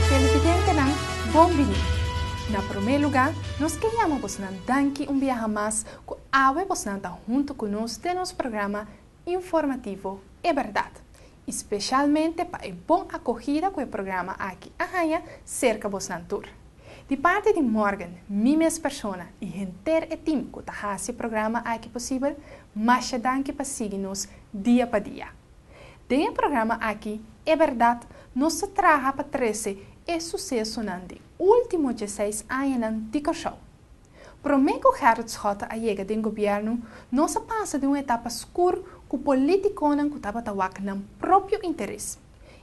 Televidentenan bon bini. Na promé lugá nos ke yama bosnan danki un biaha mas ku awe bosnan ta huntu ku nos den nos programa informativo E Bèrdat. y specialmente pa e bon acogida cu e programa aki a haña cerca bosnan tur. Di parti di Morgan, mi mes persona y henter e team cu ta haci e programa aki posibel, masha danki pa sigui nos dia pa dia. Den e programa aki, e berdad, nos ta traha pa trece e sucesonan di ultimo diesseis añanan di Corsou. Promé ku Gerrit Schotte a yega den gobièrnu, nos a pasa di un etapa skur ku polítikonan ku tabata wak nan propio interes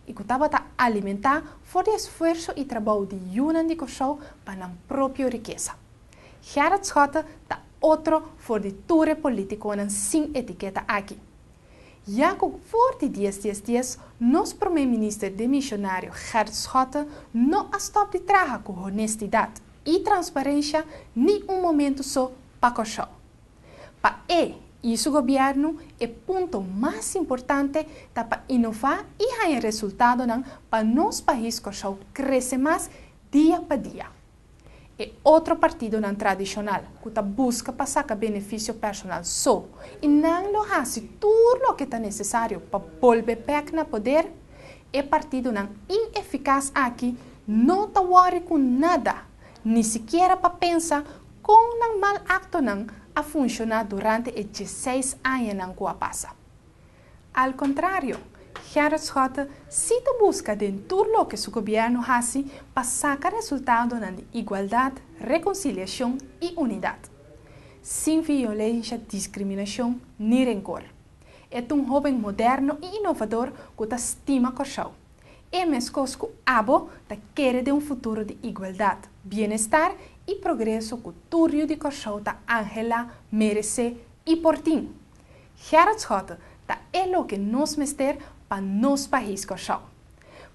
i ku tabata alimentá for di esfuerso i trabou di yunan di Kòrsou pa nan propio rikesa. Gerrit Schotte ta otro for di tur e polítikonan sin etiketa aki. Ya ku for di dies dies dies nos promé minister demishonario Gerrit Schotte no a stòp di traha ku honestidat, i transparencia ni un momento so pa Kòrsou. Pa e i su gobierno e punto mas importante ta pa inova i haña resultadonan pa nos pais Kòrsou krese mas dia pa dia. E otro partidonan tradishonal ku ta buska pa saka beneficio personal so i nan lo hasi tur loke ta nesesario pa bolbe bèk na poder, E partidonan inefikas aki no ta wòri ku nada, ni sikiera pa pensa kon nan mal aktonan a funshoná durante e dieseis añanan ku a pasa. Al kontrario, Gerrit Schotte si ta buska den tur loke su gobièrnu hasi pa saka resultadonan di igualdat, rekonsiliashon i unidat, sin violensha, diskriminashon ni renkor. E ta un hóben moderno i inovador ku ta stima Kòrsou. E meskos ku abo ta kere den un futuro di igualdat, bienestar i progreso ku tur yu di Kòrsou ta anhelá, meresé i por tin. Gerard Schotte ta e loke nos mester pa nos pais Kòrsou.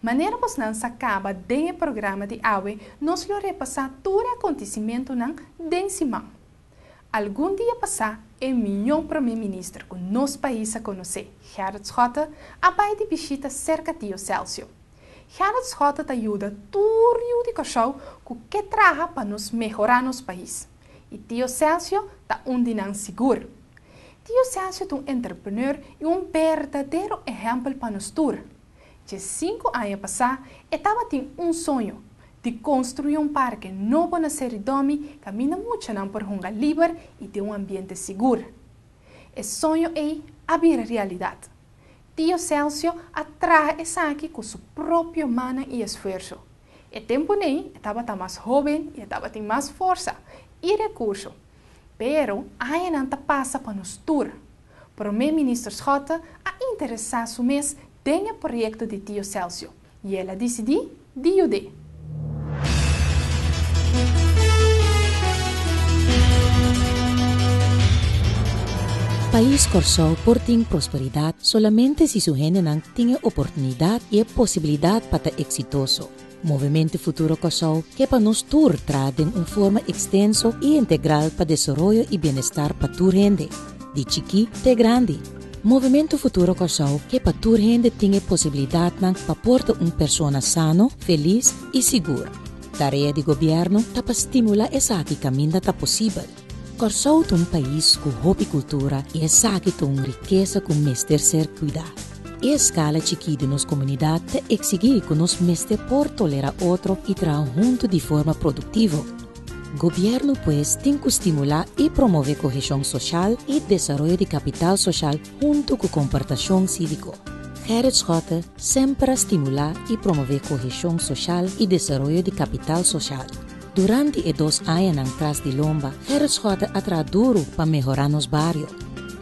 Manera bosnan sa kaba den e programa di awe nos lo repasá tur e akontisimentunan den siman. Algun dia pasá e miñó promé minister ku nos pais a konosé, Gerrit Schotte, a bai di bishita serka Tio Celsio. Gerrit Schotte ta yuda tur yu di Kòrsou ku ke traha pa nos mehorá nos pais. I Tio Celsio ta un di nan sigur. Tio Celsio ta un entrepreneur i un berdadero ehèmpel pa nos tur. Dje sinku aña pasá e tabatin un soño di konstruí un parke nobo na Seridòmi kaminda muchanan por hunga liber i den un ambiente sigur. E soño ei a bira realidat. Tio Selsio a traha esaki ku su propio mannan i esfuerso. E tempunen e tabata mas hóben i e tabatin mas forsa i rekurso. Pero añanan ta pasa pa nos tur. Prome Minister Schotte a interesá su mes den e proyekto di Tio Selsio i el a disidí di yud'é. Pais Kòrsou por tin prosperidat solamente si su hendenan tin e oportunidat i e posibilidat pa ta eksitoso. Movimento Futuro Kòrsou ke pa nos tur traha den un forma ekstenso i integral pa desaroyo i bienestar pa tur hende, di chikí te grandi. Movimento Futuro Kòrsou ke pa tur hende tin e posibilidatnan pa por ta un persona sano, felis i sigur. Tarea di gobièrnu ta pa stimulá esaki kaminda ta posibel. Kòrsou ta un pais ku hopi kultura i esaki ta un rikesa ku mester ser kuidá. E eskala chikí di nos komunidat ta eksigí ku nos mester por tolerá otro i traha huntu di forma produktivo. Gobièrnu pues tin ku stimulá i promové koheshon soshal i desaroyo di kapital soshal huntu ku komportashon síviko. Gerrit Schotte semper a stimulá i promové koheshon soshal i desaroyo di kapital soshal. Durante e dos añanan tras di lomba, Gerrit Schotter a traha duru pa mehorá nos bario.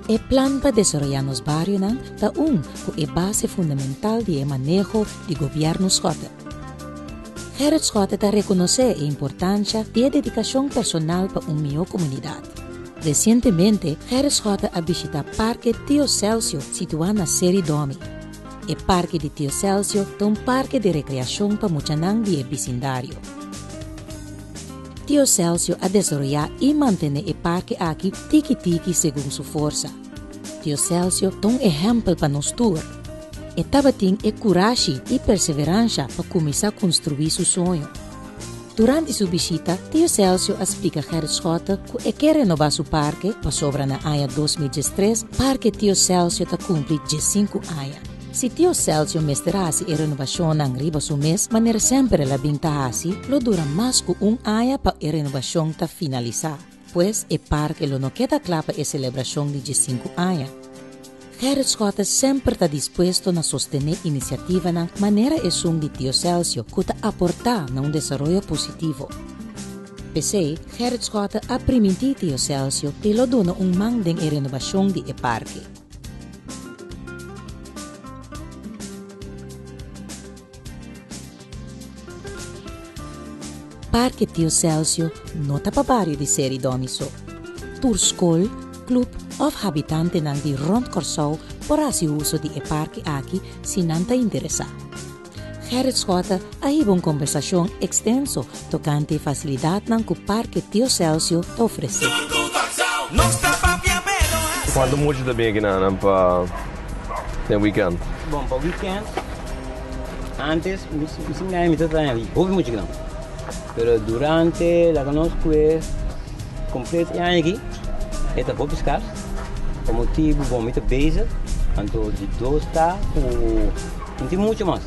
E plan pa desaroyá nos barionan ta un ku e base fundamental di e maneho di Gobièrnu Schotter. Gerrit Schotter ta rekonosé e importansha di e dedikashon personal pa un mihó komunidat. Resientemente, Gerrit Schotter a bishitá Parke Tio Selsio situá na Seri Domi. E parke di Tio Selsio ta un parke di rekreashon pa muchanan di e bisindario. Tio Selsio a desaroyá i mantené e parke aki tiki tiki segun su forsa. Tio Selsio ta un ehèmpel pa nos tur. E tabatin e kurashi i perseveransha pa kuminsá konstruí su soño. Durante su bishita, Tio Celcio a splica Gerrit Schotten cu e kier renoba su parke pasobra na aña dos mil diestres Parke Tio Celcio ta cumpli diescinco aña. Si Tio Celcio mester haci e renobacionnan riba su mes manera semper el a bin ta haci, lo dura mas cu un aña pa e renobacion ta finalisa. Pues e parke lo no keda kla pa e selebrashon di diesinku aña. Gerrit Schotte semper ta dispuesto na sostené inisiativanan manera esun di Tio Selsio ku ta aportá na un desaroyo positivo. P'esei, Gerrit Schotte a primintí Tio Selsio e lo duna un man den e renobashon di e parke. Parke Tio Selsio no ta pa bario di Seri Domi so. Tur skol, klub òf habitantenan di rònt Kòrsou por hasi uso di e parke aki si nan ta interesá. Gerrit Schotte a hiba un kombersashon ekstenso tokante e fasilidatnan ku Parke Tio Selsio ta ofresé. Cuanto mucha ta bini kinan pa den weekend? Bon, pa weekend, antes misi miai mi ta traha di hopi mucha kinan. Pero durante laga nos kue completo e aña aki, e ta hopi scars. Pa motibu bon mi ta bezig, anto di dos ta ku tin mucha mas.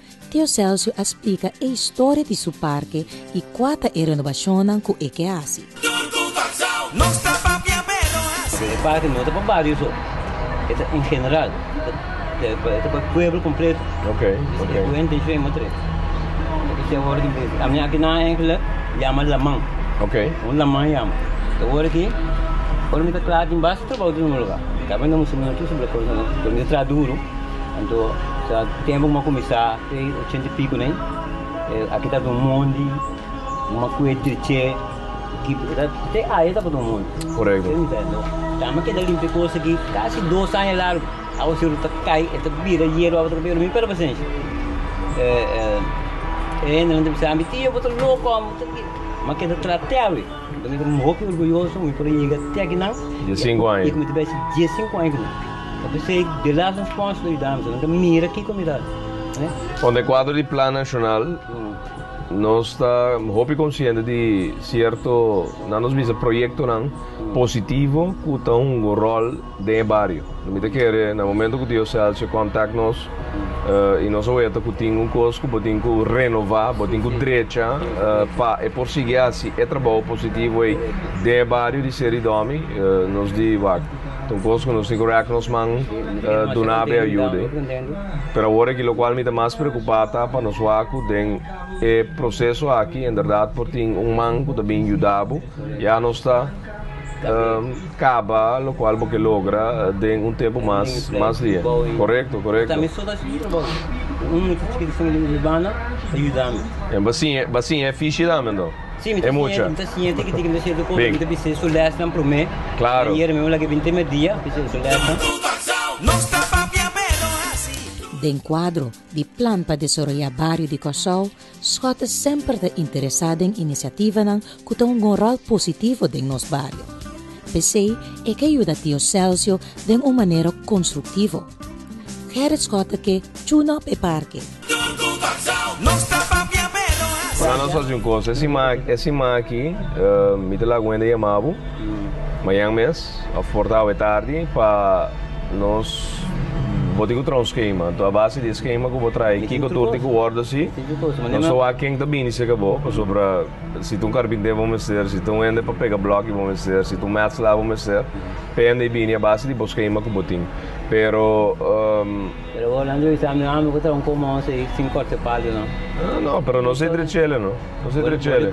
Tio Celcio a splika e historia di su parke y cua ta e renobacionnan cu e ke haci. Pero e parke no ta pa bario so, e ta en general, e ta pa pueblo completo. Esaki e buen decision e mester e. Ami aki nan eigenlijk yama laman, un laman yama. E wor aki, ora mi ta cla tin bas trabao tin un lugar, ta bay na Musumino tur, pero mi ta traha duro. Anto ta tempu ku m'a kuminsá ku e ochenta i piku nei. Aki tabata un mondi kuma ku e drich'é ki te aña tabata un mondi. Korekto. Anto tambe a keda limpia e kos aki kasi dos aña largu. Awa si ora ta kai e ta bira yeru awa ta kai pero mi perde pasensha. E hendenan ta bisa mi, tio bo ta loko amo, bo ta ke. M'a keda tra te awe. Mi ta hopi orguyoso ku mi por a yega te akinan. Diesinku aña. I ku mi ta bai si diesinku aña ku nan. Ta p'esei di las responsabilidadnan nos ta mira kiko mi ta. Bon, den kuadro di Plan Nashonal nos ta hopi konsiente di sierto, nan nos bisa proyektonan positivo ku ta hunga ròl den e bario. Mi ta kere na momento ku Tio Celcio kòntak nos i nos a weta ku tin un kos ku bo tin ku renová, bo tin ku drecha pa e por sigui hasi e trabou positivo ei den e bario di Seridòmi, nos di wak. Tin cos cu nos tin cu rek nos man duna abe ayude. Pero awor aki locual mi ta mas preocupa ta pa nos wak cu den e proceso aki en berdad por tin un man cu ta bin yuda bo y a nos ta caba locual bo ke logra den un tempo mas mas lia. Corecto, corecto. Embasi e fishy tambe enton. e mucha. Den kuadro di Plan pa Desoroyá Bario di Kòrsou, Schott ta semper ta interesá den inisiativanan ku ta un gonròl positivo den nos bario. P'esei e ke yuda Tio Selsio den un manera konstruktivo. Gerrit Schott ta ke tune-up e parke. Manda nos hasi un cosa, e sima, e sima aki mi ta laga un hende yama bo, mañan mes of for ta awe tardi, pa nos, bo tin cu traha un schema, a base di e schema cu bo traha kico tur tin cu wordo si, nos ta wak ken ta bini seca bo, pasobra si ta un carbinter bo mester, si ta un hende pa pega bloki bo mester, si ta un metsla bo mester, pende y bini a base di bo schema cu bo tin, pero. Pero bo nan dui sa mi ami ku ta un komo nos ei sin korte palo no. No no pero nos ei dre chele no nos ei dre chele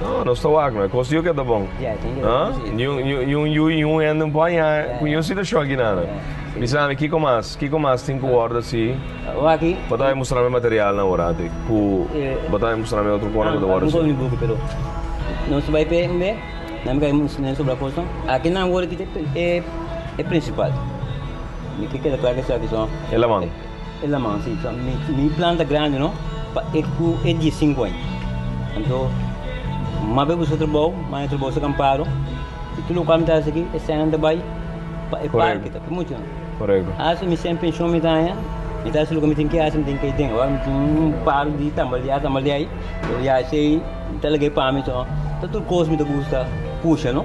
no nos ta wak no e kos yu ke ta bon ha ni un yu ni un hende no por haña ku ni un situashon aki nada mi sa ami kiko mas kiko mas tin ku wòrdu asi bo ta bai mustra mi material nan ora antes ku bo ta bai mustra mi otro kona ku ta wòrdu asi. Nos bai p'e nan mi kai mustr'e sobra kos no aki nan wòrdu e principal. Mi ke keda klar esaki so. E laman. E laman si so mi plan ta grandi no pa e ku e di sinku aña anto mas be buska trabou mas e trabou sta kampado i tur lokal mi ta hasi aki e sènnan ta bai pa e parke ta muchu Asi mi sèn penshon mi ta haña mi ta hasi loke mi tin ke hasi mi tin kei den ora mi tin un par di tambaleá tambaleá ei tambaleá ei mi ta lag'ei pami so ta tur kos mi ta gusta pusha no.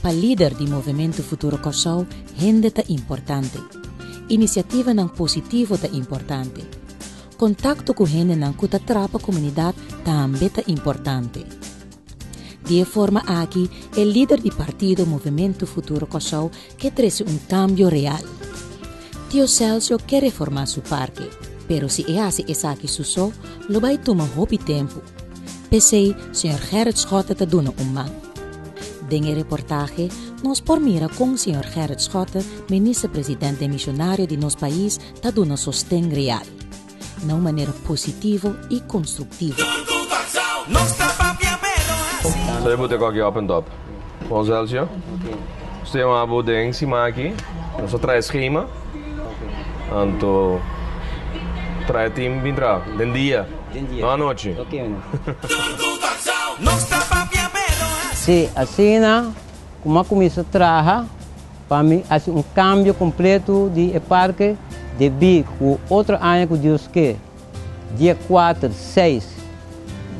Pa lider di Movementu Futuro Kòrsou hende ta importante. Inisiativanan positivo ta importante. Kontakto ku hendenan ku ta trapa komunidat tambe ta importante. Di e forma aki e lider di partido Movementu Futuro Kòrsou ke trese un kambio real. Tio Selsio ke reformá su parke, pero si e hasi esaki su so, lo bai tuma hopi tempu. P'esei, señor Gerrit Schotte ta duna un man. Den e reportahe nos por mira kon señor Gerrit Schotte, Minister-President den Misionario di nos pais, ta duna sosten real. na un manera positivo i konstruktivo. Sabi bo te kòk i open top? Bon Celcio, nos ta yama bo den siman aki. Nos a traha e skema, anto traha e tim bin traha den dia, no anochi. Sí, asina ku m'a kuminsa traha Pa mi hasi un kambio kompletu di e parke debí ku otro aña ku Dios ke, dia kuater, seis,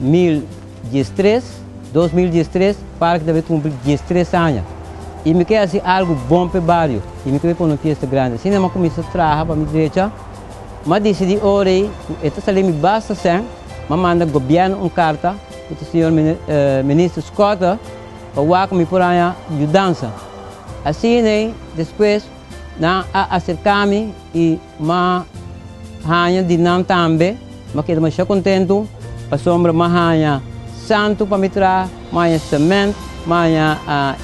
mil dies tres, dos mil dies tres, parke ta bai kumpli dies tres aña. I mi ke hasi algu bon p'e bario i mi ke bai pone un fiesta grandi. Asina mi a kuminsá traha pa mi drecha. Mi a disidí ora ei ku e ta sali mi basta sèn. Mi a manda gobièrnu un karta ku ta señor Minister Scott. Pa wak mi por haña yudansa. Asin'ei despues nan a aserká mi i m'a haña di nan tambe. M'a keda mashá kontentu pasobra m'a haña santu pa mi traha, m'a haña semènt, m'a haña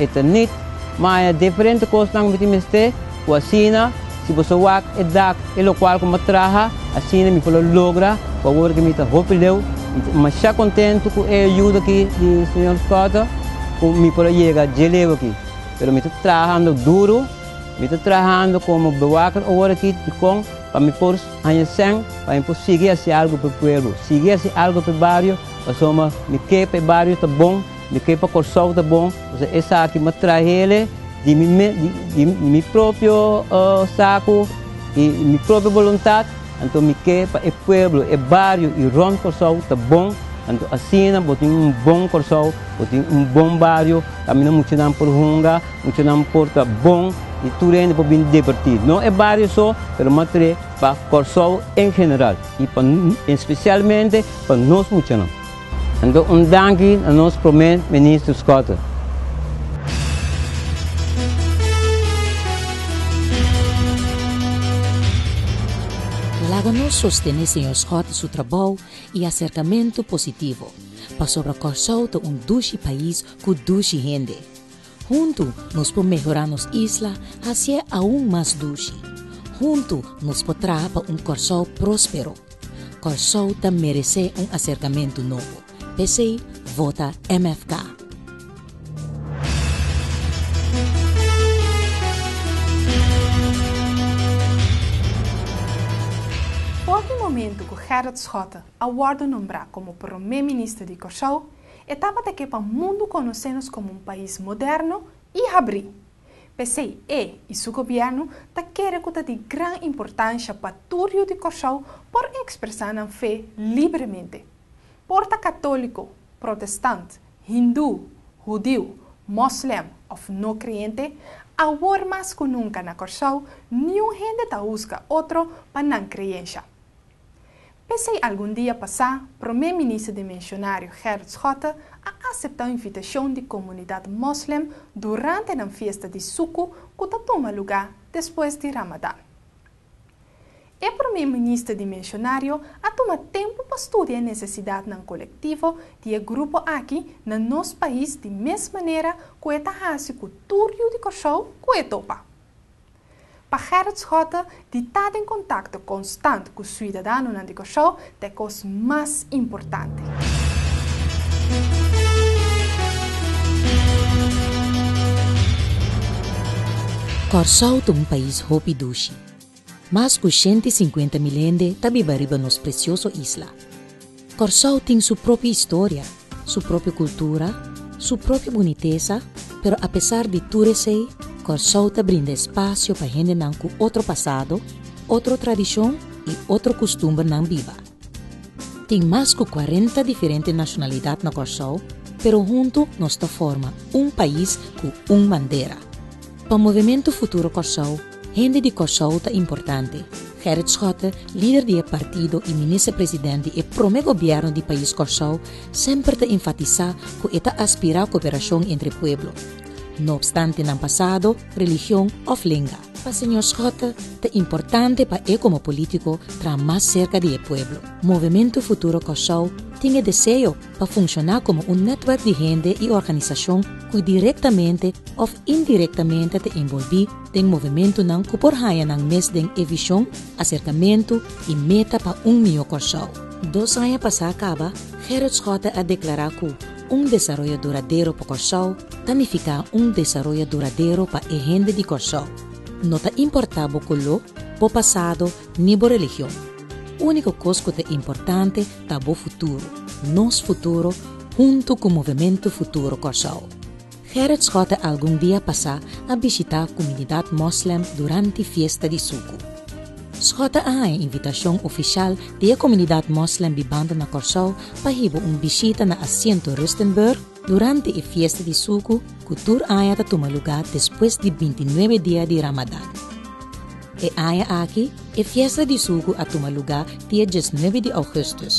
etanit, m'a haña diferente kosnan ku mi tin mester. Cu asina, si bo sa wak e dak e locual cu mi a traha, asina mi por lo logra cu awor cu mi ta hopi leu, mi ta masha contento cu e ayuda aki di Señor Scott cu mi por a yega dje leu aki. Pero mi ta trahando duro, mi ta trahando como bewaker awor aki dicon pa mi por haya cen pa mi por sigui haci algo p'e pueblo, sigui haci algo p'e bario, pasobra mi ke p'e bario ta bon. Mi ke pa Kòrsou ta bon, pasobra esaki mi a traha el di mi mes, di mi propio saku i mi propio boluntat. Anto mi ke pa e pueblo, e bario i rònt Kòrsou ta bon. Anto asina bo tin un bon Kòrsou, bo tin un bon bario kaminda muchanan por hunga, muchanan por ta bon i tur hende por bini divirtí. No e bario so, pero matre pa Kòrsou en general i pa, espesialmente pa nos muchanan. Nan ta un danki na nos prome minister Schotten. Laga nos sostene señor Schotten su trabou y acercamento positivo, pasobra Corsou ta un dushi pais cu dushi hende. Huntu nos por mehorá nos isla hasié aun mas dushi. Huntu nos por traha pa un Kòrsou próspero. Kòrsou ta meresé un aserkamentu nobo. P'esei vota MFK. Por di momentu ku Gerrit Schotte a wòrdu nombrá komo promé minister di Kòrsou, Etapa ta ke pa mundu konosé nos komo un pais moderno i habrí. P'esei e i su gobièrnu ta kere ku ta di gran importansha pa tur yu di Kòrsou por ekspresá nan fe libremente. Por ta katóliko, protestant, hindú, hudiu, mòslèm òf no kreyente, awor mas ku nunka na Kòrsou niun hende ta huska otro pa nan kreyensha. P'esei algun dia pasá promé minister di Mensionario Gerrit Schotte a aseptá invitashon di komunidat moslèm durante nan fiesta di Suku ku ta tuma lugá despues di Ramadan. E promé minister di Mensionario a tuma tempu pa studia e nesesidatnan kolektivo di e grupo aki na nos pais di mes manera ku e ta hasi ku tur yu di Kòrsou ku e topa. Pa Gerrit Schotte, di ta den contacto constant cu suidadanonan di Curaçao ta e cos mas importante. Corsou ta un pais hopi dushi. Mas cu shente i sinkuenta mil hende ta biba riba nos precioso isla. Kòrsou tin su propio historia, su propio kultura, su propio bunitesa, pero apesar di tur esei, Kòrsou ta brinda espasio pa hendenan ku otro pasado, otro tradishon i otro kustumbernan biba. Tin mas ku kuarenta diferente nashonalidat na Kòrsou, pero huntu nos ta forma un pais ku un bandera. Pa Movementu Futuro Kòrsou, Hende di Kòrsou ta importante. Gerrit Schotte, lider di e partido i minister president di e promé gobièrnu di pais Kòrsou, semper ta enfatisá ku e ta aspirá koperashon entre pueblo, no opstante nan pasado, religion òf lenga. Pa señor Schotte ta importante pa e komo polítiko traha mas serka di e pueblo. Movementu Futuro Kòrsou tin e deseo pa funshoná komo un nètwerk di hende i organisashon ku direktamente òf indirektamente ta enbolbí den movementunan ku por haña nan mes den e vishon, aserkamentu i meta pa un mihó Kòrsou. Dos aña pasá kaba, Gerrit Schotte a deklará ku un desaroyo duradero pa Kòrsou ta nifiká un desaroyo duradero pa e hende di Kòrsou, no ta importá bo koló, bo pasado ni bo religion. Úniko kos ku ta importante ta bo futuro, nos futuro hunto ku Movementu Futuro Kòrsou. Gerrit Schotte algun dia pasá a bishitá kumunidat mòslèm durante fiesta di Suku. Schotte a haña invitashon ofishal di e komunidat mòslèm di banda na Kòrsou pa hiba un bishita na Asiento Rustenburg, Durante e fiesta di suku ku tur aña ta tuma lugá despues di binti nuebe dia di Ramadan. E aña aki e fiesta di suku a tuma lugá dia dies nuebe di Ougùstùs.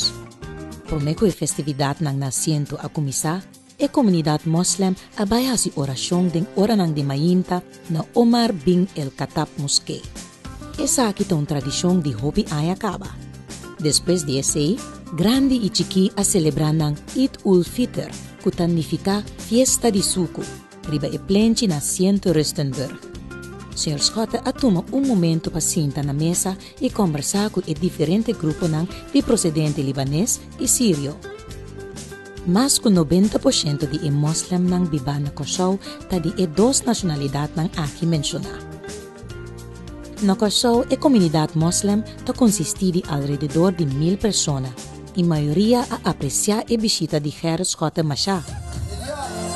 Promé ku e festividatnan na asiento a kuminsá, e komunidat mòslèm a bai hasi orashon den oranan di mainta, Na Omar bin el Khattab Moské. Esaki ta un tradishon di hopi aña kaba. Despues di esei, grandi i chikí a selebrá nan Eid ul Fitr, ku ta nifiká Fiesta di Suku, riba e plenchi na Sint Rustenburg. Señor Schotte a tuma un momentu pa sinta na mesa i kombersá ku e diferente gruponan di prosedente libanes i sirio. Mas ku nobenta por shento di e moslemnan bibá na Kòrsou ta di e dos nashonalidatnan aki menshoná. Na Kòrsou e komunidat moslem ta konsistí di alrededor di mil persona, i mayoria a apresiá e bishita di Gerrit Schotte Machar,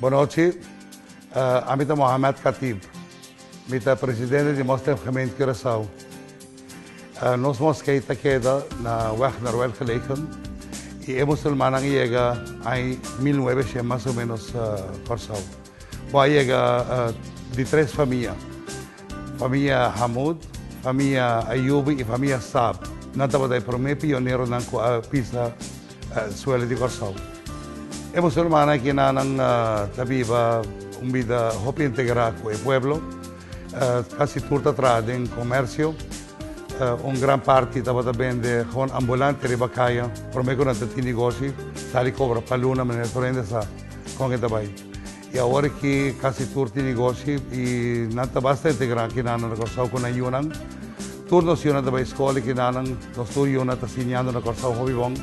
Bonochi, ami ta Mohamed Khatib. Mi ta presidente di Moslim Gemeente Curaçao. Nos moskei ta keda na Weg Noruel gelegen y e musulmannan a yega ai mil nuebeshen mas o menos Corsou. Bo a yega di tres famia, famia Hamoud, famia Ayoubi y famia Saab. Nan tabata e prome pioneronan cu a bisa Suele di Kòrsou. E boso rumannan aki na nan ta biba un bida hopi integrá ku e pueblo. Kasi tur ta traha den komersio. Un gran parti tabata bende hon ambulante riba kaya. Promé ku nan ta tin nigoshi, sali kobra pa luna manera Florinda sa kon e ta bai. Y awor ki casi tur tin negoshi y nan ta basta hende gran ki nan na Corsao cu nan yunan. Tur nos yunan ta bay escola y kinanan nos tur yunan ta siñando na Corsao hopi bon.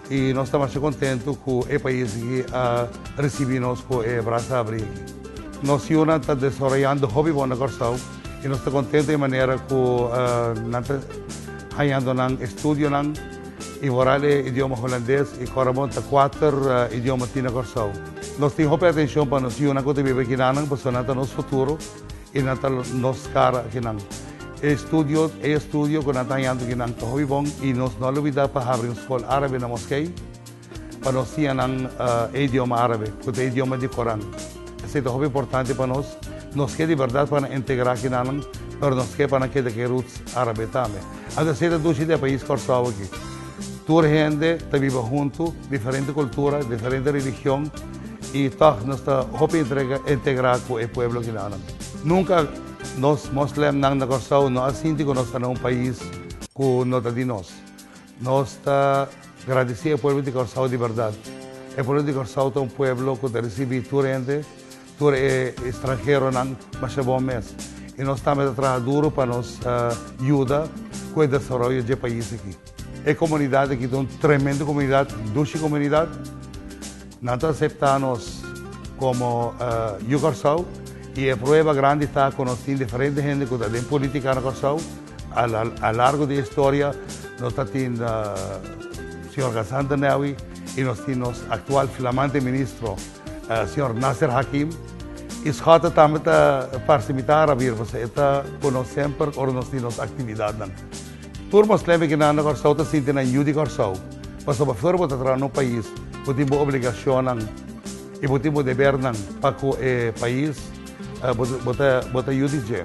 Y nos ta masha contento cu e pais aki a ricibi nos cu e brasa abri aki. Nos yunan ta desaroyando hopi bon na Corsao y nos ta contento e manera cu nan ta hañando nan estudionan y boral e idioma Hulandes y Corabon ta cuater idioma tin na Corsao. Nos tin hopi atenshon pa nos yunan ku ta biba aki. Nannan personanan ta nos futuro i nan ta nos kara aki nan. E estudio e estudio ku nan ta hañando aki nan ta hopi bon i nos no a lubidá pa habri un skol árabe na moskei pa nos siña nan e idioma árabe ku ta e idioma di Koran. Esei ta hopi importante pa nos. Nos ke di bèrdat pa nan integrá aki nannan, pero nos ke pa nan keda ku e roots árabe tambe. Anto esei ta dushi den e pais Kòrsou aki. Tur hende ta biba huntu, diferente kultura, diferente religion i tòg nos ta hopi integrá ku e pueblo Ginanan. Nunka nos moslemnan na Kòrsou no a sinti ku nos ta na un pais ku no ta di nos. Nos ta gradisí e pueblo di Kòrsou di bèrdat. E pueblo di Kòrsou ta un pueblo ku ta risibí tur hende Tur e estranheronan masha bon mes i nos tambe ta traha duru pa nos yuda ku e desaroyo dje pais aki. E komunidat aki ta un tremendo komunidat, dushi komunidat. Nan ta aseptá nos komo Yu Kòrsou i e prueba grandi ta ku nos tin diferente hende ku ta den politika na Kòrsou. A largo di e historia nos ta tin señor Gassanta Newi i nos tin nos aktual flamante ministro. Señor Nasser Hakim. Isgod ta tambe ta parsimita ara bir pasobra e ta ku nos semper ora nos tin nos aktividatnan. Tur moslempe kinan na Kòrsou ta sinti nan yu di Kòrsou pasobra afuera bo ta traha na un pais bo tin bo obligashonnan i bo tin bo debernan pa ku e pais bo ta yu di dje.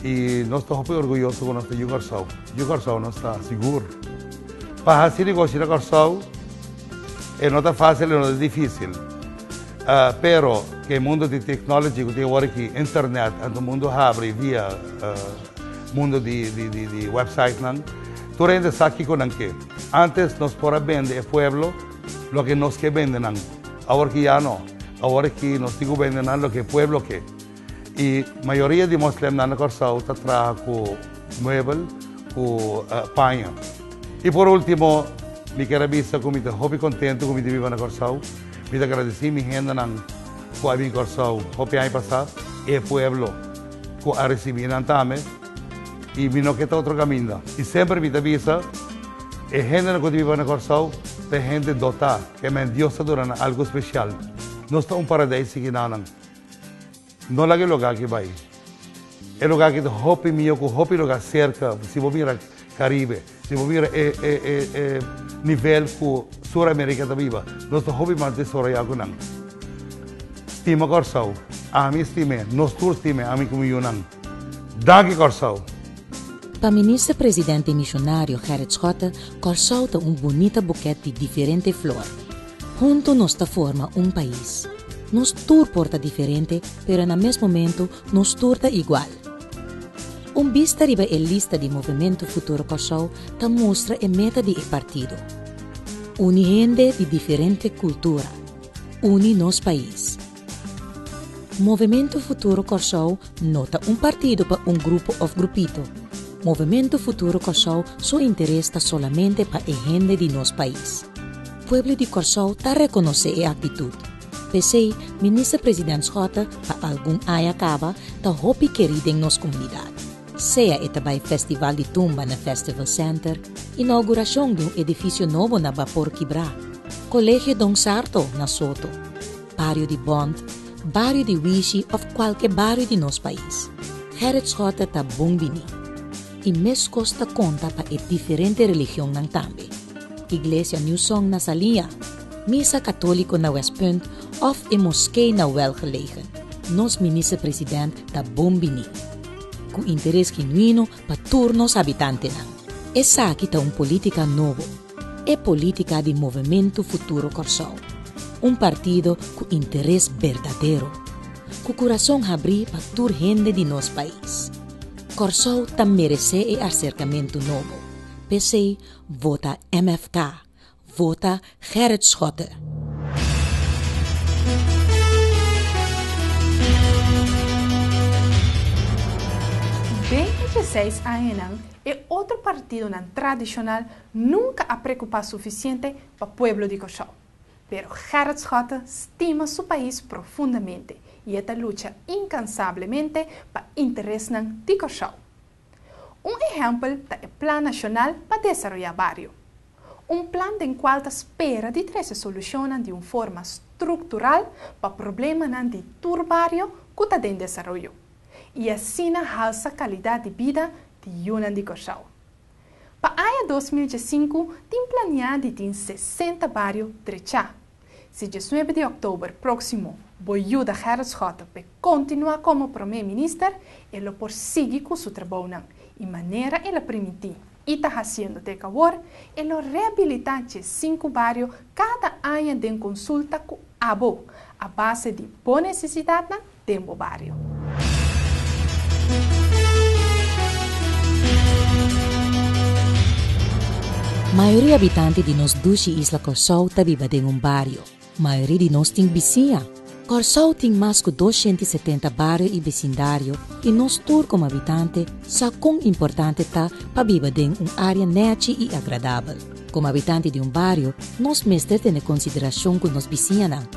I nos ta hopi orguyoso ku nos ta yu Kòrsou. Yu Kòrsou nos ta sigur. Pa hasi negoshi na Kòrsou. E no ta fácil e no ta difícil. Pero cu e mundo di technology cu tin awor aki, internet, anto mundo habri via mundo di websitenan, tur hende sa kico nan ke. Antes nos por a bende e pueblo loke nos ke bende nan. Awor aki ya no. Awor aki nos tin cu bende nan loke e pueblo ke. E mayoria di moslemnan na Kòrsou ta traha ku muebel, ku paño. I por último, mi kier a bisa ku mi ta hopi kontentu ku mi di biba na Kòrsou. Mi ta gradesí mi hendenan ku a bin Kòrsou hopi aña pasá, e pueblo ku a risibí nan tambe, i mi no ke ta otro kaminda. I semper mi ta bisa, e hendenan ku ta biba na Kòrsou ta e hende dotá, ke men Dios ta duna nan algu spesial. Nos ta un paradeis sigi nanan. No laga e lugá aki bai. E lugá aki ta hopi mihó ku hopi lugá serka si bo mira Karibe, si bo mira e e nivel ku Sur Amerika ta biba. Nos ta hopi mas desoroyá ku nan. Stima Kòrsou. Ami stim'é. Nos tur stim'é, ami ku mi yunan. Danki Kòrsou! Pa Minister Presidente Misionario Gerrit Schotte, Kòrsou ta un bunita bukèt di diferente flor. Hunto nos ta forma un pais. Nos tur por ta diferente pero na mes momento nos tur ta igual. Un bista riba e lista di Movimento Futuro Kòrsou ta mustra e meta di e partido, Uni hende di diferente kultura, uni nos pais. Movemento Futuro Kòrsou no ta un partido pa un grupo òf grupito. Movemento Futuro Kòrsou su interes ta solamente pa e hende di nos pais. Pueblo di Kòrsou ta rekonosé e aktitut. P'esei Minister President Schotte pa algun aña kaba ta hopi kerí den nos komunidat. Sea e ta bai Festival di Tumba na Festival Center, inaugurashon di un edifisio nobo na Bapor Kibrá, Kolegio Don Sarto na Soto, Bario di Bond, Bario di Wishi of cualke bario di nos pais, Gerrit Schotte ta bon bini. Y mescos ta conta pa e diferente religionnan tambe, Iglesia New Song na Salia, Misa Catolico na West Punt of e Moskee na Welgelegen. Nos Minister President ta bon bini, cu interes genuino pa tur nos habitantenan. Esaki ta un politica nobo. E politica di Movemento Futuro Corsou, un partido cu interes berdadero, cu curason habri pa tur hende di nos pais. Corsou ta merece e acercamento nobo, p'esey vota MFK, vota Gerrit Schotte. Den e djeseis añanan E otro partidonan tradishonal nunka a prekupá sufisiente pa pueblo di Kòrsou. Pero Gerrit Schotten stima su pais profundamente i e ta lucha inkansablemente pa interesnan di Kòrsou. Un ehèmpel ta e Plan Nashonal pa Desaroyá Bario, un plan den kual ta spera di trese solushonnan di un forma struktural pa problemanan di tur bario ku ta den desaroyo. i asina halsa kalidat di bida di yunan di Kòrsou. Pa aña dos mil diesinku tin planiá di tin sesenta bario drechá. Si diesnuebe di òktober próksimo bo yuda Gerrit Schotten p'e kontinuá komo promé minister, e lo por sigui ku su trabounan i manera el a primintí i ta hasiendo te ek awor, e lo rehabilitá dje sinku bario kada aña den konsulta ku abo, a base di bo nesesidatnan den bo bario. Mayoria habitanti di nos dushi isla Kòrsou ta biba den un bario. Mayoria di nos tin bisiña. Kòrsou tin mas ku dos shenta i setenta bario i besindario i nos tur komo habitante sa kon importante ta pa biba den un área nèchi i agradabel. Komo habitanti di un bario, nos mester tene konsiderashon ku nos bisiñanan,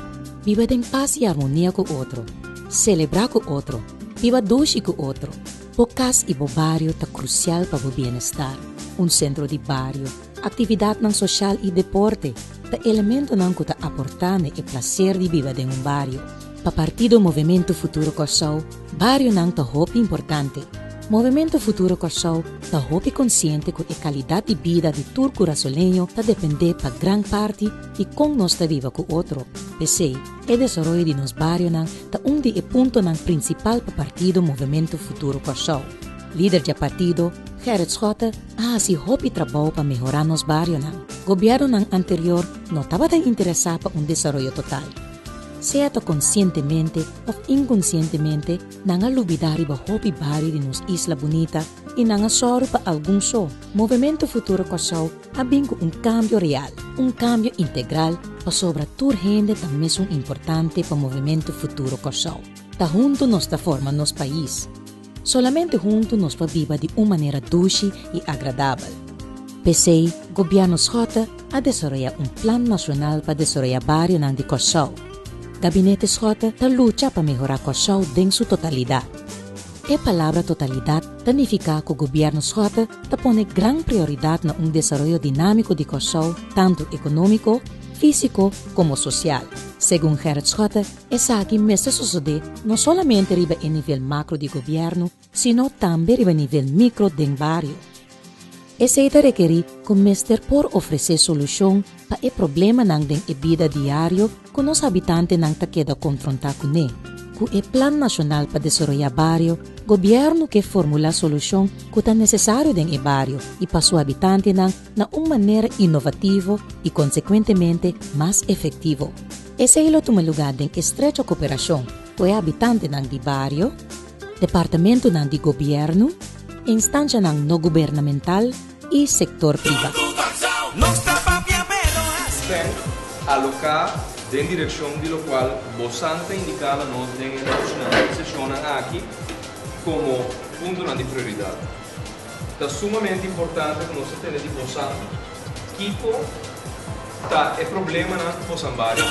biba den pas i armonia ku otro, selebrá ku otro, biba dushi ku otro. Bo kas i bo bario ta krusial pa bo bienestar. Un sentro di bario, aktividatnan soshal i deporte ta elementonan ku ta aportá na e plaser di biba den un bario. Pa Partido Movemento Futuro Kòrsou, barionan ta hopi importante. Movemento Futuro Kòrsou ta hopi konsiente ku e kalidat di bida di tur kurasoleño ta dependé pa gran parti di kon nos ta biba ku otro. P'esei, e desaroyo di nos barionan ta un di e puntonan prinsipal pa Partido Movemento Futuro Kòrsou. Lider dje partido, Gerrit Schotte, a hasi hopi trabou pa mehorá nos barionan. Gobièrnunan anterior no tabata interesá pa un desaroyo total. Sea ta konsientemente òf inkonsientemente, nan a lubidá riba hopi bario di nos isla bunita i nan a sòru pa algun so. Movementu Futuro Kòrsou a bin ku un kambio real, un kambio integral pasobra tur hende ta mesun importante pa Movementu Futuro Kòrsou. Ta huntu nos ta forma nos pais. Solamente huntu nos por biba di un manera dushi i agradabel. P'esei Gobièrnu Schotte a desaroyá un Plan Nashonal pa Desaroyá Barionan di Kòrsou. Gabinete Schotte ta lucha pa mehorá Kòrsou den su totalidat. E palabra totalidat ta nifiká ku Gobièrnu Schotte ta pone gran prioridat na un desaroyo dinámiko di Kòrsou tantu ekonómiko, físiko komo sosial, segun Gerrit Schotte, Esaki mester sosodé no solamente riba e nivel macro di gobierno, sino tambe riba nivel micro den bario. Esei ta rekerí ku mester por ofresé solushon pa e problemanan den e bida diario ku nos habitantenan ta keda konfrontá kuné. Ku e Plan Nashonal pa Desaroyá Bario, gobierno ke formulá solushon ku ta nesesario den e bario i pa su habitantenan na un manera inovativo i konsekuentemente mas efektivo. Esei lo tuma lugá den estrecho koperashon ku e habitantenan di bario, departamentunan di gobièrnu, instanshanan no gubernamental i sektor privá. Spend Aloká den direkshon di lokual Bossan ta indiká la nos den e nochinan i seshonnan aki komo puntonan di prioridat. Ta sumamente importante ku nos ta tende di bosa kiko ta e problemanan ku bosan baria.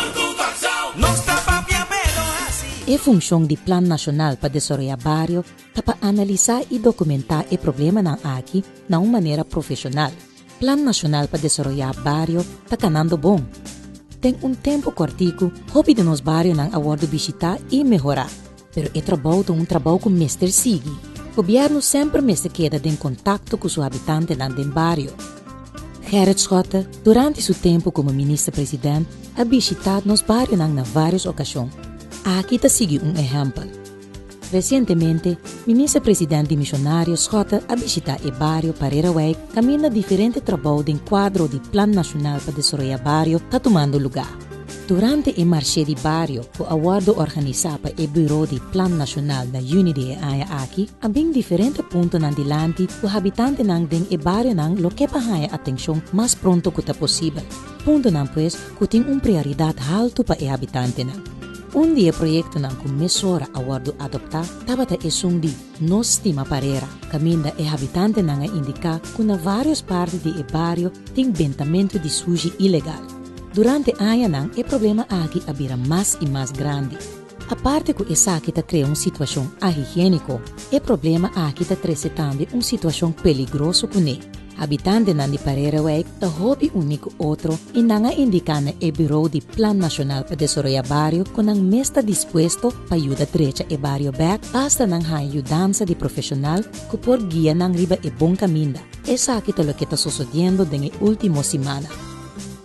E funshon di Plan Nashonal pa Desoroyá Bario ta pa analisá i dokumentá e problemanan aki na un manera profeshonal Plan Nacional pa Desaroyá Bario ta kanando bon. Den un tempu kòrtiku, hopi di nos barionan a wòrdu bishitá i mehorá. Pero e trabou ta un trabou ku mester sigui. Gobièrnu semper mester keda den kontakto ku su habitantenan den bario. Gerrit Schotte, durante su tempu komo Minister President, a bishitá nos barionan na vários okashon. Aki ta sigui un ehèmpel. Resientemente, Minister President di Misionario Schotte a bishita e bario Parerewijk kaminda diferente trabou den kuadro di Plan Nashonal pa Desaroya Bario ta tumando lugá. Durante e marshe di bario ku a wòrdu organisá pa e Buro di Plan Nashonal na yüni di e aña aki, a bin diferente puntonan dilanti ku habitantenan den e barionan lo ke pa haña atenshon mas pronto ku ta posibel. puntonan pues ku tin un prioridat haltu pa e habitantenan. Un di e proyektonan ku mesora a wòrdu adoptá tabata esun di No Stima Parera, kaminda e habitantenan a indiká ku na vários parti di e bario tin bentamentu di sushi ilegal. Durante añanan e problema aki a bira mas i mas grandi. Aparte ku esaki ta krea un situashon ahigiéniko, e problema aki ta trese tambe un situashon peligroso kuné. Habitantenan di Pareirewijk ta hopi uní ku otro i nan a indiká na e Birou di Plan Nashonal pa Desoroyá Bario ku nan mes ta dispuesto pa yuda drecha e bario bèk basta nan haña yudansa di profeshonal ku por guia nan riba e bon kaminda. Esaki ta loke ta sosodiendo den e último simana.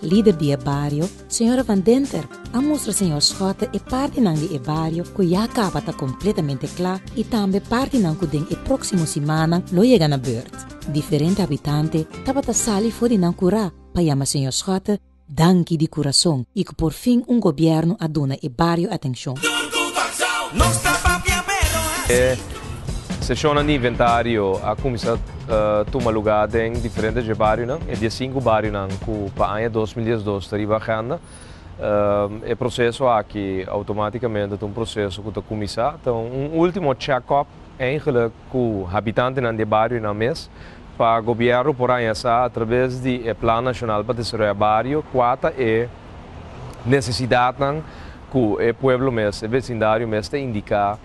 Lider di e bario, Señora Van Denter a mustra señor Schotte e partinan di e bario cu ya caba ta completamente cla y tambe partinan cu den e proximo simannan lo yega na beurt. Diferente habitante tabata sali for di nan cura pa yama señor Schotte danki di curazon y cu por fin un gobierno a duna e bario atencion. E sesionnan di inventario a cuminsa. tuma lugá den diferente dje barionan, e diesinku barionan ku pa aña dos mil diesdos ta riba agenda. E proseso aki outomátikamente ta un proseso ku ta kuminsá, ta un último chèkòp eindgelijk ku habitantenan di e barionan mes, pa gobièrnu por haña sa a traves di e Plan Nashonal pa Desaroya Bario kua ta e nesesidatnan ku e pueblo mes, e vesindario mes ta indiká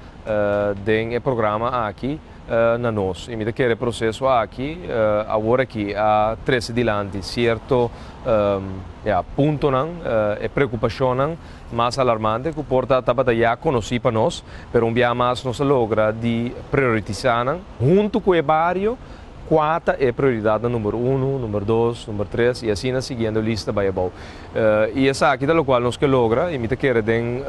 den e programa aki. na nos. I mi ta kere e proseso aki aworakí a trese dilanti sierto ya puntonan, e preokupashonnan mas alarmante ku por ta tabata ya konosí pa nos, pero un biaha mas nos a logra di prioritisá nan huntu ku e bario kua ta e prioridatnan number unu, number dos, number tres i asina siguiendo e lista bai abou. I esaki ta lokual nos ke logra i mi ta kere den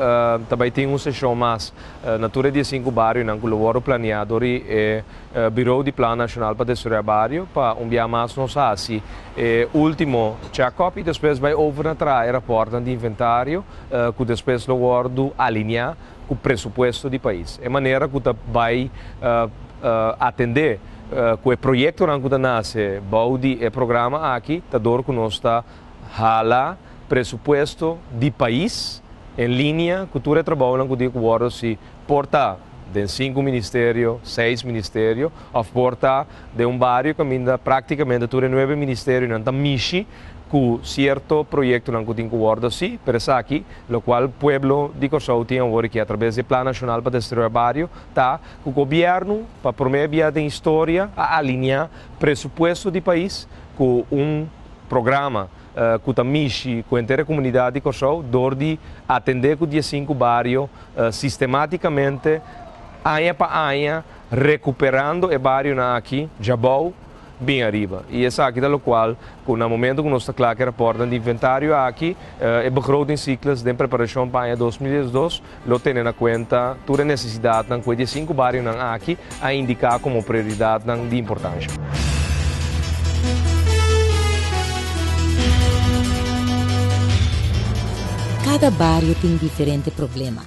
ta bai tin un seshon mas Na tur e diesinku barionan ku lo wòrdu planiá dor di e Birou di Plan Nashonal pa Destruyá Bario pa un biaha mas nos a hasi e último chèkòp i despues bai over na traha e rapòrtnan di inventario ku despues lo wòrdu alineá ku presupuesto di pais. E manera ku ta bai atendé ku e proyektonan ku ta nase bou di e programa aki ta dor ku nos ta hala. Presupuesto di pais en linea cu tur e trabounan cu tin cu wordo si por ta den sinku ministerio, seis ministerio of por ta den un bario caminda practicamente tur e nuebe ministerionan ta mishi cu cierto proyectonan cu tin cu wordo si pero esaki locual pueblo di Corsou tin awor e ki atraves di e Plan Nacional pa Destroya Bario ta cu gobierno pa prome bia den historia a alinea presupuesto di pais cu un programa ku ta mishi ku henter e komunidat di Kòrsou dor di atendé ku diesinku bario sistematikamente aña pa aña rekuperando e barionan aki djabou bin ariba i esaki ta lokual ku na momentu ku nos ta kla ku e rapòrtnan di inventario aki e begrotingsiklus den preparashon pa aña dos mil diesdos Lo tene na kuenta tur e nesesidatnan ku e diesinku barionan aki a indiká komo prioridatnan di importansha. Kada bario tin diferente problema.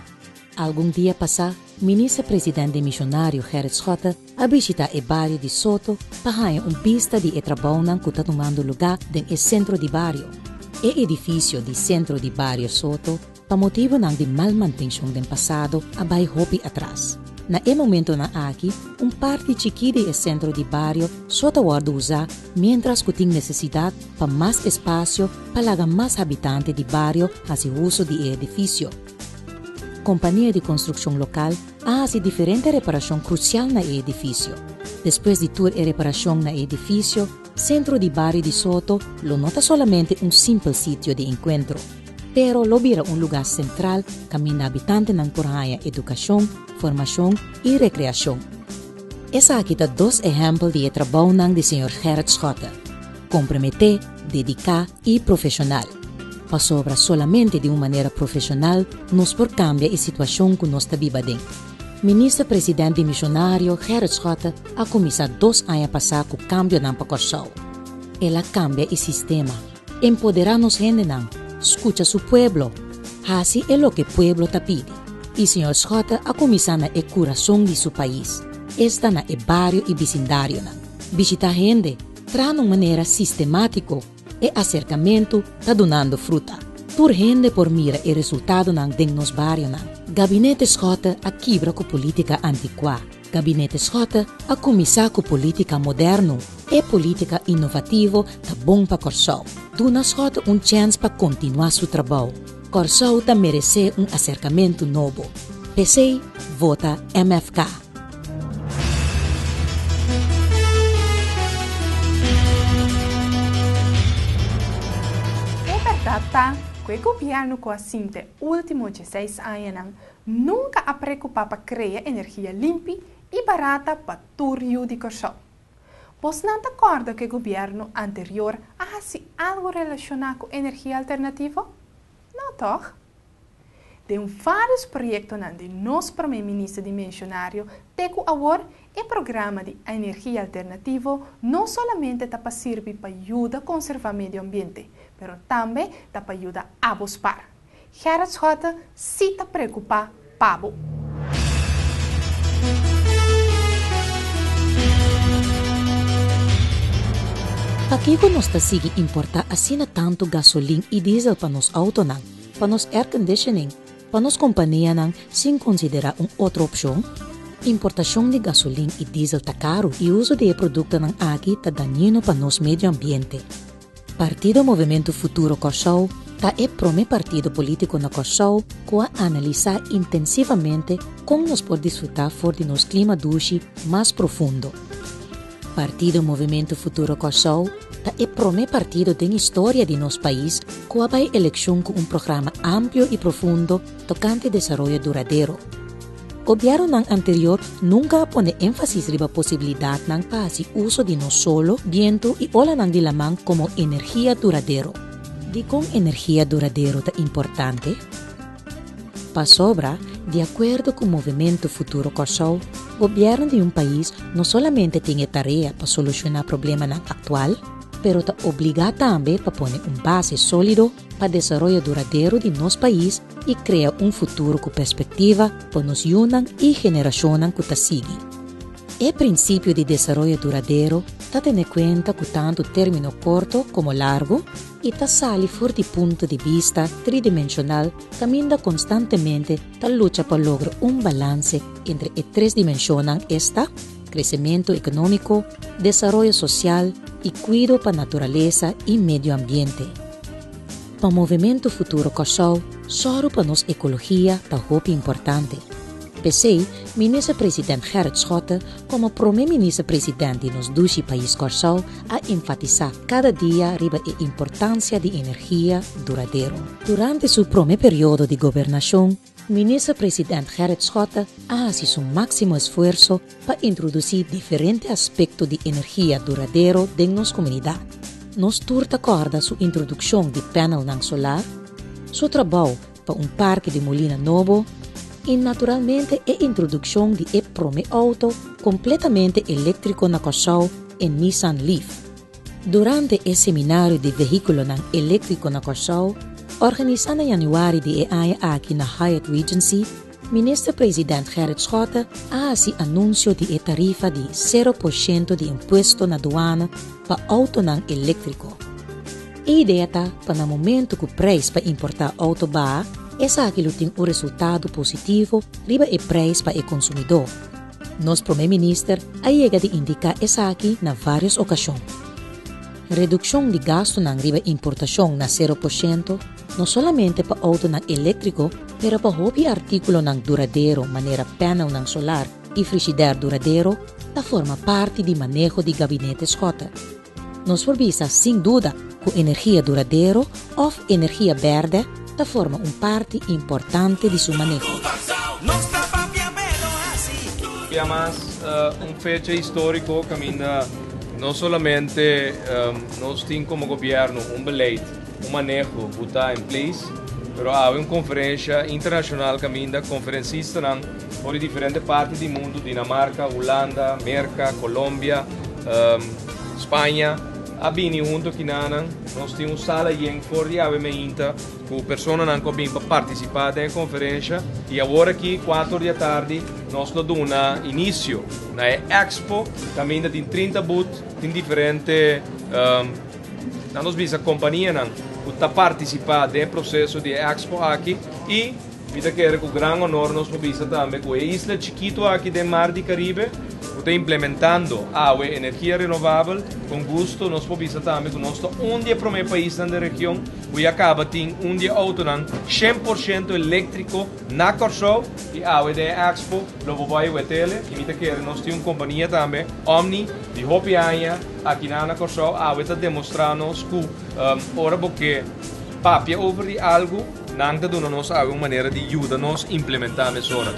Algun dia pasá Minister President den Misionario Gerrit Schotte a bishitá e bario di Soto pa haña un bista di e trabounan ku ta tumando lugá den e sentro di bario. E edifisio di Centro di Bario Soto, Pa motibonan di mal mantenshon den pasado a bai hopi atras. Na e momentonan aki un parti chikí di e sentro di bario so ta wòrdu usá miéntras ku tin nesesidat pa mas espasio pa laga mas habitante di bario hasi uso di e edifisio. Kompania di konstrukshon lokal a hasi diferente reparashon krusial na e edifisio. Despues di tur e reparashon na e edifisio, sentro di bario di Soto lo no ta solamente un simpel sitio di enkuentro. Pero lo bira un lugá sentral kaminda habitantenan por haña edukashon, formashon i rekreashon. Esaki ta dos ehèmpel di e trabounan di señor Gerrit Schotte, komprometé, dediká i profeshonal. Pasobra solamente di un manera profeshonal nos por kambia e situashon ku nos ta biba den. Minister President dimishonario Gerrit Schotte a kuminsá dos aña pasá ku kambionan pa Kòrsou. El a kambia e sistema. Empoderá nos hendenan, skucha su pueblo, hasi e loke pueblo ta pidi. I señor Schotte a kuminsá na e kurason di su pais, esta na e bario i bisindarionan. Bishitá hende traha un manera sistemátiko, e aserkamentu ta dunando fruta. Tur hende por mira e resultadonan den nos barionan. Gabinete Schotte a kibra ku polítika antikuá. Gabinete Schotte a kuminsá ku polítika moderno. E polítika inovativo ta bon pa Kòrsou. Duna Schotte un chèns pa kontinuá su trabou. Kòrsou ta meresé un aserkamentu nobo. P'esei, vota MFK. E bèrdat ta ku e gobièrnu ku a sinta e último djeseis añanan Nunca a preocupa pa crea energia limpi y barata pa tur yu di Corsou. Bos nan ta corda cu e gobierno anterior a haci algo relaciona cu energia alternativo? No toch? Den varios proyectonan di nos Prome Minister di mencionario te cu awor e programa di energia alternativo no solamente ta pa sirbi pa yuda conserva medio ambiente pero tambe ta pa yuda abo spar. Gerrit Schotte si ta preocupa pa bo. Pakico nos ta sigui importa asina tanto gasolin y diesel pa nos autonan, pa nos airconditioning, pa nos companianan sin considera un otro opcion? Importacion di gasolin y diesel ta caro y uso di e productonan aki ta dañino pa nos medioambiente. Partido Movimento Futuro Kòrsou ta e promé partido polítiko na Kòrsou ku a analisá intensivamente kon nos por disfrutá for di nos klima dushi mas profundo. Partido Movimento Futuro Kòrsou ta e promé partido den historia di nos pais ku a bai elekshon ku un programa amplio i profundo tokante desaroyo duradero. Gobièrnunan anterior nunka a pone énfasis riba posibilidatnan pa hasi uso di nos solo, bientu i olanan di laman komo energia duradero. Dikon energia duradero ta importante? Pasobra, di akuerdo ku Movementu Futuro Kòrsou, gobièrnu di un pais no solamente tin e tarea pa solushoná problemanan aktual, pero ta obligá tambe pa pone un base sólido pa desaroyo duradero di nos pais i krea un futuro ku perspektiva pa nos yunan i generashonnan ku ta sigui. E prinsipio di desaroyo duradero ta tene kuenta ku tantu término korto komo largu i ta sali for di punto di bista tridimenshonal kaminda konstantemente ta lucha pa logra un balanse entre e tres dimenshonnan esta, kresementu ekonómiko, desaroyo sosial i kuido pa naturalesa i medioambiente. Pa Movementu Futuro Kòrsou, sòru pa nos ekologia ta hopi importante. P'esei, Minister President Gerrit Schotte komo Prome Minister President di nos dushi pais Kòrsou a enfatisá kada dia riba e importansia di energia duradero. Durante su prome periodo di gobernashon, Minister President Gerrit Schotte a hasi su máksimo esfuerso pa introdusí diferente aspekto di energia duradero den nos komunidat. Nos tur ta kòrda su introdukshon di pánelnan solar, su trabou pa un parke di molina nobo i naturalmente e introdukshon di e promé outo kompletamente eléktriko na Kòrsou, e Nissan Leaf. Durante e seminario di vehíkulonan eléktriko na Kòrsou, organisá na yanüari di e aña aki na Hyatt Regency, Minister President Gerrit Schotte a hasi anunsio di e tarifa di sero por shento di impuesto na duana pa outonan eléktriko. E idea ta pa na momentu ku preis pa importá outo baha, esaki lo tin un resultado positivo riba e preis pa e konsumidó. Nos Prome Minister a yega di indiká esaki na vários okashon. Redukshon di gastunan riba importashon na sero por shento, no solamente pa outonan eléktriko pero pa hopi artíkulonan duradero manera pánelnan solar i frishider duradero, ta forma parti di maneho di Gabinete Schotter. Nos por bisa sin duda ku energia duradero òf energia bèrdè ta forma un parti importante di su maneho. Pia mas un fecha históriko kaminda no solamente nos tin komo gobièrnu un beleid, un maneho ku ta en place, pero awe un konferensha internashonal kaminda konferensistanan, For di diferente parti di mundu, Dinamarca, Hulanda, Merca, Colombia, Spaña, a bini hunto kinanan. Nos tin un sala yen for di awe meinta ku personanan ku a bin pa partisipá den e konferensha. I awor aki kuater di atardi nos lo duna inisio na e Expo. Kaminda tin trinta but, tin diferente, nan nos bisa, kompanianan ku ta partisipá den e proseso di e Expo aki. I. Mi ta kere ku gran honor nos por bisa tambe ku e isla chikitu aki den mar di Karibe ku ta implementando awe energia renovabel. Kon gusto nos por bisa tambe ku nos ta un di e promé paisnan den region ku ya kaba tin un di e outonan shen por shento eléktriko na Kòrsou i awe den e Expo lo bo bai wetele i mi ta kere nos tin un kompania tambe Omni di hopi aña aki nan na Kòrsou awe ta demostrá nos ku ora bo ke papia over di algu Nan ta duna nos awe un manera di yuda nos implementá mesora.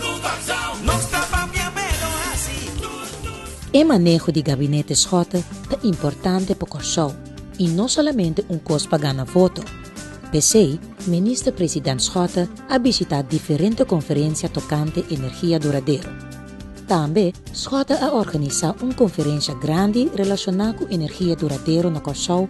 E maneho di Gabinete Schotten ta importante pa Kòrsou i no solamente un kos pa gana voto. P'esei, Minister President Schotten a bishitá diferente konferensha tokante energia duradero. Tambe Schotten a organisá un konferensha grandi relashoná ku energia duradero na Kòrsou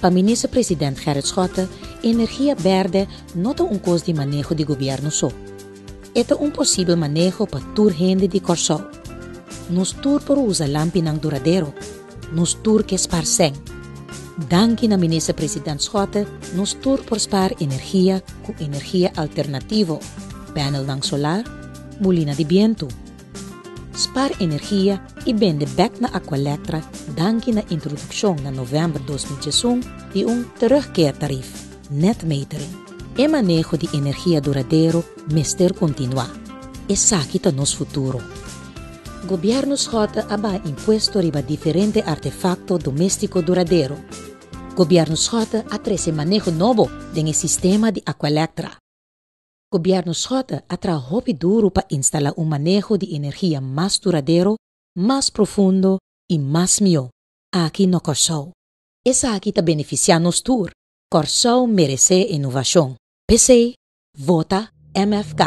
Pa Minister President Gerrit Schotte energia berde no ta un kos di maneho di Gobierno so. E ta un posibel maneho pa tur hende di Kòrsou. Nos tur por usa lampinan duradero, nos tur ke spar sèn. Danki na Minister President Schotte nos tur por spar energia ku energia alternativo, pènelnan solar, mulina di bientu, Spar energia i bende bek na Aqualectra danki na introdukshon na novèmber dos mil diesun di un terugkeertarif, net metering. E maneho di energia duradero mester kontinuá. Esaki ta nos futuro. Gobièrnu Schotten a baha impuesto riba diferente artefakto doméstiko duradero. Gobièrnu Schotten a trese maneho nobo den e sistema di Aqualectra. Gobièrnu Schotte a traha hopi duru pa instalá un maneho di energia mas duradero, mas profundo i mas mihó aki na Kòrsou. Esaki ta benefisiá nos tur. Kòrsou meresé e novashon. P'esei, vota MFK!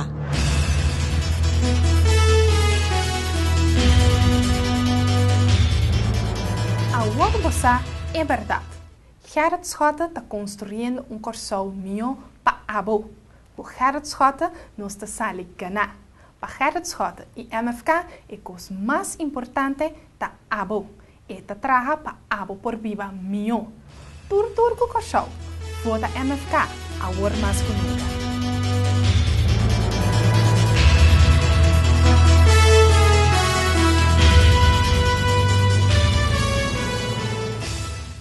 Awor bo sa e bèrdat. Gerrit Schotte ta construyendo un Corsou mihó pa abo. Cu Gerrit Schotte nos ta sali ganá. Pa Gerrit Schotte y MFK e cos mas importante ta abo. E ta traha pa abo por biba mihó. Tur tur cu Corsou, vota MFK awor mas cu nunca.